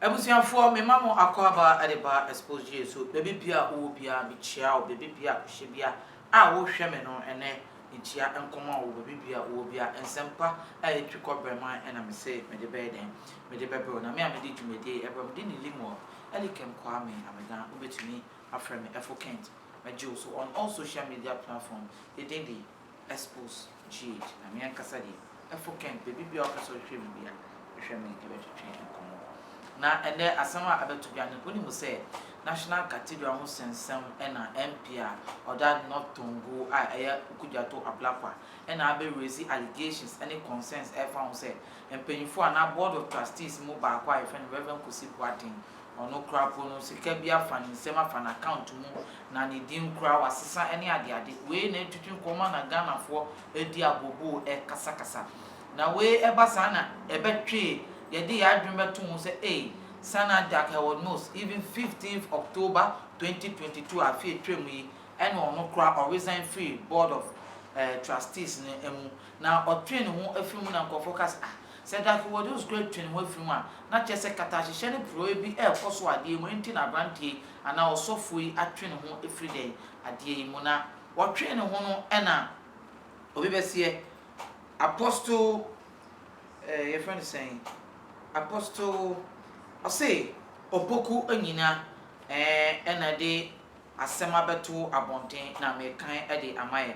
Abusuafoɔ mema mo akwaaba de ba Exposed Gye so baabi biara wowɔ biara mekyia wo baabi biara kohyɛ biara a wohwɛ me no ɛnɛ mekyia nkɔma wo baabi biara wowɔ biara nsɛmpa a ɛtwi kɔ brɛman ɛna mese mede bɛyɛ dɛn mede bɛbrɛ wo na me a mede dwumadie ɛbrɛ mede ne Limuel Elikem Kwame Amedan wobɛtumi Afrɛ me Ɛfo Kent mɛgye wo so on all social media platform yɛ din de Expose Jade na me ankasa deɛ Ɛfo Kent baabi biara wopɛ sɛ wohwɛ me bia hwehwɛ me yɛbɛtwetwe nkɔmmɔ na ɛnnɛ asɛm a abɛto dwa no wonim sɛ National Cathedral ho sɛnsɛm ɛna MP a ɔda North Tongu a ɛyɛ Okudjato Ablakwa ɛna abɛ raise allegations ɛne concerns ɛfa ho sɛ mpanyinfoɔ anaa Board of Trustees mu baako a yɛfrɛ no Rev Kosi Boateng Ɔnokorafo no sika bi afa ne nsam afa n'account mu na ne din koraa wasesa ne adeade. Wei na ɛtutu nkɔmmɔ na Ghanafoɔ ɛredi agoboo ɛrekasakasa. Na wei ɛba saa na ɛbɛtwee yɛde yɛn adwene bɛto ho sɛ ei Sana Jack Herwood Mills even fifteenth October twenty twenty two a afe ɛtwam yi ɛna ɔno koraa ɔresign firi board of Trustees no mu. Na ɔtwee ne ho afiri mu na nkurɔfoɔ ka sɛ, Ah, sɛ Darky Waduus koraa twee ne ho afiri mu a, na kyerɛ sɛ katahyehyɛ ne porɔeɛ bi rekɔ so wɔ adeɛ yi mu, enti na aberanteɛ yi anaa ɔsɔfoɔ yi atwe ne ho afiri dɛn? Adeɛ yi mu. Na ɔtwee ne ho no na obi bɛseɛ, Apostle, eh, yɛfrɛ no sɛn, Apostle, ɔse, Opoku Anyina, eh, na ɛde asɛm abɛto abɔnten na mekan de ama yɛ.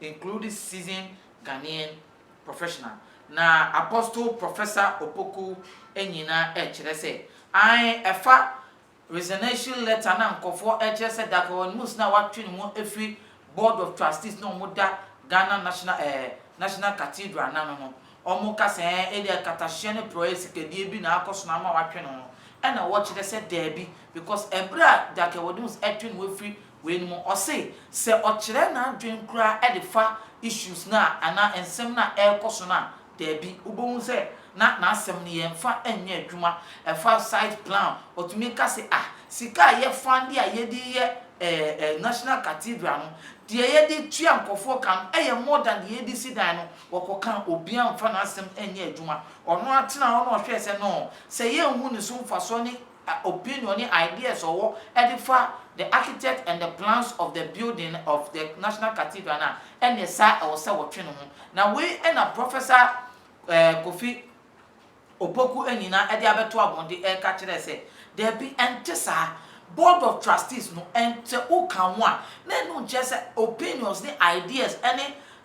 include seasoned Ghanaian professional, na Apostle Professor Opoku nnyina rekyerɛ sɛ, ae, ɛfa resignation letter no a nkurɔfoɔ rekyerɛ sɛ Daakye Ɔwɛn-Amus no a watwe ne ho afiri Board of Trustees no a wɔda Ghana National eh, National Cathedral no ano no, wɔka sɛ eh, ebia nkatahyeɛ ne porɔeɛ sikadie bi na akɔ so na ama watwe ne ho, ɛna wɔkyerɛ sɛ daabi, because ɛberɛ a Daakye Ɔwɛn-Amus twe ne ho afiri Wei no mu ɔse sɛ ɔkyerɛ n'adwen koraa de fa issues no a anaa nsɛm no a ɛrekɔ so no a daabi wobɛhu sɛ na n'asɛm no yɛmfa nyɛ adwuma ɛfa site plan ɔtumi ka se ah sika a yɛ funde a yɛde reyɛ eh national cathedral no deɛ yɛde tua nkɔfoɔ ka no ɛyɛ more than deɛ yɛde si dan no wɔkɔ ka obia mfa n'asɛm nyɛ adwuma ɔno atena hɔ na ɔhwɛ sɛ no sɛ yɛnhu ne so mfasoɔ ne a opinion ne ideas a ɔwɔ de fa the architect and the plans of the building of the National Cathedral no a, ɛnneɛ saa ɛwɔ sɛ wɔtwe ne ho. Na wei na Professor eh, Kofi Opoku Anyina de abɛto abɔn de reka kyerɛɛ sɛ, Daabi, ɛnte saa. Board of Trustees no, ɛn, sɛ woka ho a, na ɛno nkyerɛ sɛ opinions ne ideas ne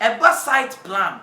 Ɛba site plan,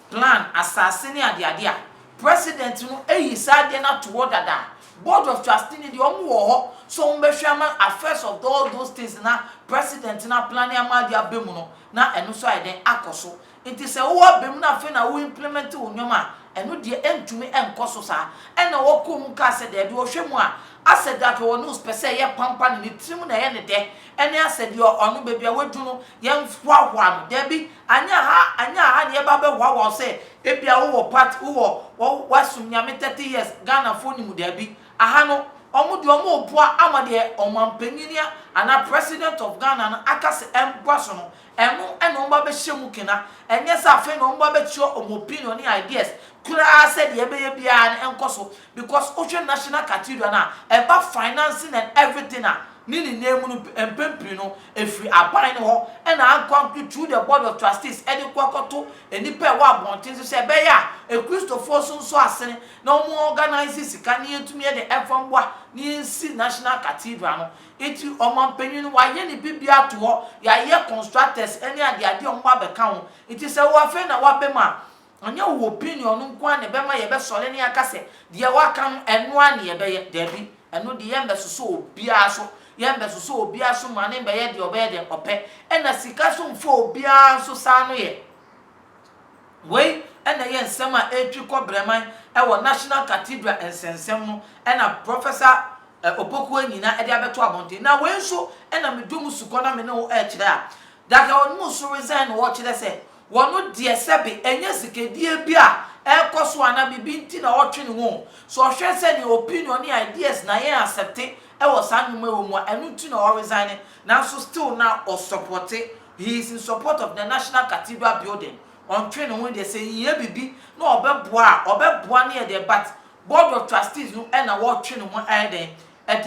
plan, asase ne adeade a, President no ayi saa adeɛ no ato hɔ dada. Board of Trustee no deɛ, wɔn wɔ hɔ sɛ wɔn bɛhwɛ ama affairs of all those things na President no aplane ama adeɛ aba mu no, na ɛno nso ayɛ dɛn, akɔ so. Nti sɛ wowɔ aba mu na afei na wo implement wo nneɛma a, ɛno deɛ ɛntumi nkɔ so saa. Ɛna wɔkɔɔ mu kaa sɛ, daabi, wɔhwɛ mu a, asɛ da pɛ wɔn nose pɛ sɛ ɛyɛ pampan, ne tirim na ɛyɛ ne dɛ. Ɛne asɛ deɛ ɔno baabi a wadu no yɛnhoahoa no dabi anyɛ aha anyɛ aha na yɛba bɛhoahoa wo sɛ ebia wowɔ party wowɔ woasom Nyame thirty years Ghanafoɔ nim wo dabi aha no wɔn deɛ wɔn reboa ama deɛ ɔmanpanyin anaa president of Ghana no aka sɛ ɛmboa so no ɛno na wɔn ba bɛhyɛ mu kena ɛnyɛ sɛ afei na wɔn ba bɛkyerɛ wɔn opinion ne ideas koraa sɛ deɛ ɛbɛyɛ biara no ɛnkɔ so Because wohwɛ National Cathedral no a, ɛba financing and everything a, ne nyinaa mu no mpɛn pii no, ɛfiri aban no hɔ na ankorankoro through the Board of Trustees de kɔ kɔto nnipa a ɛwɔ abɔnten so sɛ ɛbɛyɛ a Akristofoɔ nso nsɔ asene na wɔn organise sika na yɛtumi de mfa mmoa na yɛnsi National Cathedral no. Nti ɔmanpanin no wayɛ ne biribiara ato hɔ, yɛayɛ constructors ne adeadeɛ a wɔn abɛka ho. Nti sɛ wo afei na woabam a, Ɔnyɛ wo opinion no nko ara na ɛbɛma yɛbɛsɔre na yɛaka sɛ, deɛ woaka no, ɛno ara na yɛbɛyɛ. Dabi, ɛno deɛ yɛremmɛsosɔ obiara so. Yɛremmɛsosɔ obiara so mma no mmɛyɛ deɛ ɔbɛyɛ deɛ ɔpɛ. Ɛnna sika nso mfa obiara nso saa no yɛ. Wei na ɛyɛ nsɛm a ɛretwi kɔ Brɛman wɔ National Cathedral nsɛnsɛm no na Professor Opoku Anyina de abɛto abɔnten. Na wei nso na me dɔ mu sukɔ na me ne wo rekyerɛ a, Daka Onimusu resign na ɔrekyerɛ sɛ Wɔn deɛ sɛbe ɛnyɛ sikadie bi a ɛrekɔ so anaa biribi nti na ɔretwe ne ho o, sɛ ɔhwɛ sɛ nea opinion ne ideas na yɛn accepte wɔ saa nnwuma yi wɔ mu a, ɛno nti na ɔresigne, nanso still na ɔsupporte, he is in support of the National Cathedral building, ɔntwe ne ho deɛ sɛ ehia biribi na ɔbɛboa a, ɔbɛboa ne ɛdeɛ but Board of Trustees no na wɔretwe ne ho ayɛ dɛn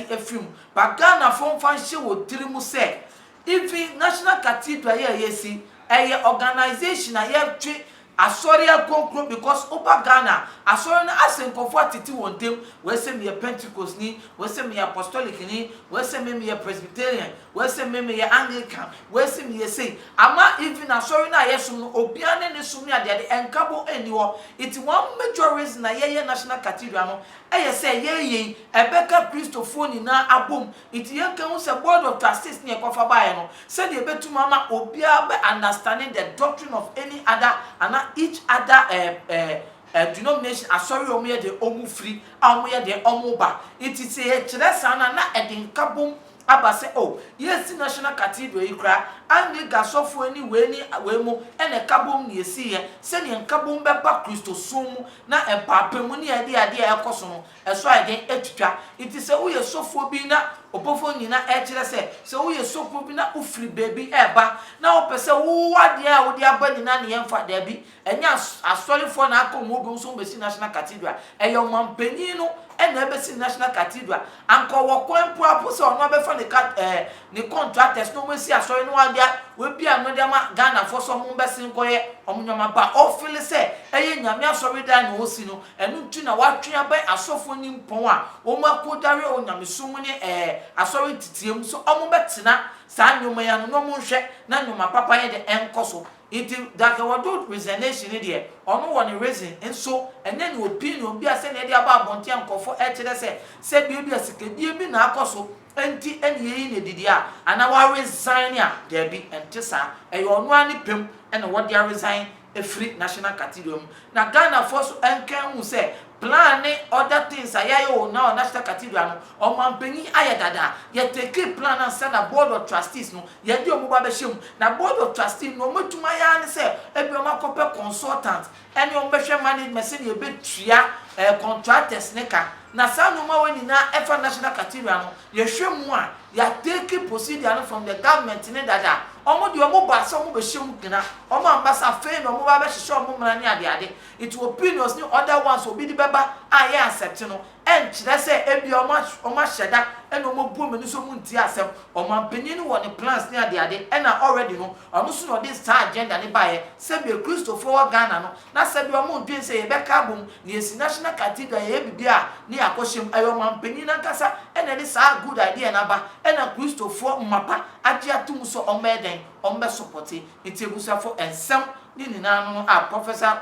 de afiri mu. But Ghanafoɔ mfa nhyɛ wɔn tiri mu sɛ, Even National Cathedral yi a yɛasi, ɛyɛ organisation a yɛtwe Asɔre akronkron because woba Ghana a, Asɔre no asɛ nkurɔfoɔ atete wɔn ntam, wei sɛ meyɛ Pentecostni, wei sɛ meyɛ Apostolicni, wei sɛ me meyɛ Presbyterian, wei sɛ me meyɛ Anglican, wei sɛ meyɛ sei. Ama even Asɔre no a yɛsom no, obiara ne ne som ne adeade, nkabɔ nni hɔ. Nti one major reason a yɛyɛ National Cathedral no yɛ sɛ yɛreyɛ yi, ɛbɛka Kristofoɔ nyinaa abom, Ntsi yɛnnka hu sɛ Board of Trustees ne yɛkɔfa baeɛ no, sɛdeɛ ɛbɛtum ama obiara bɛ understande the doctrine of any other anaa each other eh eh eh denomination, asɔre a wɔyɛ deɛ wɔn firi a wɔyɛ deɛ wɔn ba. Ntsi sɛ yɛkyerɛ saa no a, na ɛde nkabom aba sɛ oh, yɛresi National Cathedral yi koraa, Anglican sɔfoɔ ne wei ne wei mo na ɛkabom na yɛsiiɛ, sɛdeɛ nkabom bɛba Kristosom mu na mpaapamu ne ade ade a ɛrekɔ so no Ɛso ayɛ den atwitwa. Enti sɛ woyɛ sɔfoɔ bi na ɔbɔfoɔ nyina rekyerɛ sɛ, sɛ woyɛ sɔfoɔ bi na wofiri baabi reba na wopɛ sɛ wowɔ adeɛ a wode aba nyina ne yɛmfa, daabi, ɛnyɛ asɔrefoɔ na akɔ wɔn dwom so wɔbɛsi National Cathedral. Ɛyɛ ɔmanpanin no na ɛbɛsi National Cathedral. Anka ɔwɔ kwan mpo ara mpo sɛ ɔno ara bɛfa ne ka ɛɛ ne contractors na wɔasi asɔre na wɔde a wɔabie ano de ama Ghanafoɔ sɛ wɔmmɛse nkɔyɛ wɔn nneɛma. Ba ɔfeele sɛ ɛyɛ Nyame asɔredan na ɔresi no. Ɛno nti na wɔatwe abɛn asɔfoɔ nimpɔn a wɔakɔdware wɔ nyamesom ne ɛɛ asɔre nteteam sɛ wɔbɛtena saa nnoɔma yi ano na wɔnhwɛ na nnoɔma papa yɛ dɛ ɛnkɔ so. Nti Darkewado resignation no deɛ ɔno wɔ ne reason nso ɛnyɛ ne opinion bi a sɛdeɛ ɛde aba abɔnten a nkurɔfoɔ rekyerɛ sɛ sɛdeɛ ebia sikadie bi na akɔ so nti na yɛyi no adi deɛ a anaa wa resign a, daabi ɛnte saa ɛyɛ ɔno ara ne pɛ mu na wɔde aresign ɛfiri National Cathedral mu na Ghanafoɔ nso nka nhu sɛ plan ne other things a yɛayɛ wɔ now National Cathedral no ɔmanpanin ayɛ dada yɛ takee plan no ansa na Board of Trustees no yɛde wɔn ba bɛhyɛ mu na Board of Trustees no deɛ wɔatumi ayɛ ara ne sɛ ebia wɔakɔpɛ consultant ɛne wɔn bɛhwɛ management sɛdeɛ yɛbɛtua ɛɛ contractors no ka na saa nnoɔma wei nyinaa ɛfa National Cathedral no yɛhwɛ mu a yɛatake procedure no from the government ne dada, ɔmo deɛ ɔmo baa sɛ ɔmo bɛhyɛ mu gyina, ɔmo amma sɛ afei na ɔmo ba bɛhyehyɛ ɔmo mmara ne ade ade, nti opinions ne other ones a obi de bɛba a yɛ accept no ɛnkyerɛ sɛ ebia ɔmo ɔmo ahyɛ da ɛna ɔmo abu ɔmo ani so ɔmo ntie asɛm, ɔmanpanin no wɔ ne plans ne ade ade ɛna already no ɔno nso na ɔde saa agenda no baeɛ sɛdeɛ Kristofoɔ wɔ Ghana no Na sɛdeɛ wɔn dwen sɛ yɛbɛka abom na yɛasi National Cathedral yɛyɛ biribi a ne yɛ akɔhyɛ mu, ɛyɛ ɔmanpanin no ankasa na ɛde saa good idea no aba na Kristofoɔ mmapa agye ato mu sɛ wɔmmɛyɛ dɛn? Wɔmmɛsɔpɔte. Nti abusuafoɔ nsɛm ne nyinaa no no a Professor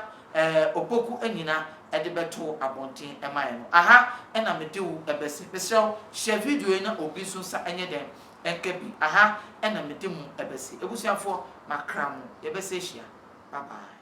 Opoku Anyina de bɛtoo abɔnten maeɛ no, aha na mede wo bɛse. Mesrɛ wo share video yi na obi nso nsa nyɛ dɛn? Nka bi. Aha na mede mo bɛse. Abusuafoɔ makra mo. Yɛbɛsa hyia. Bye bye.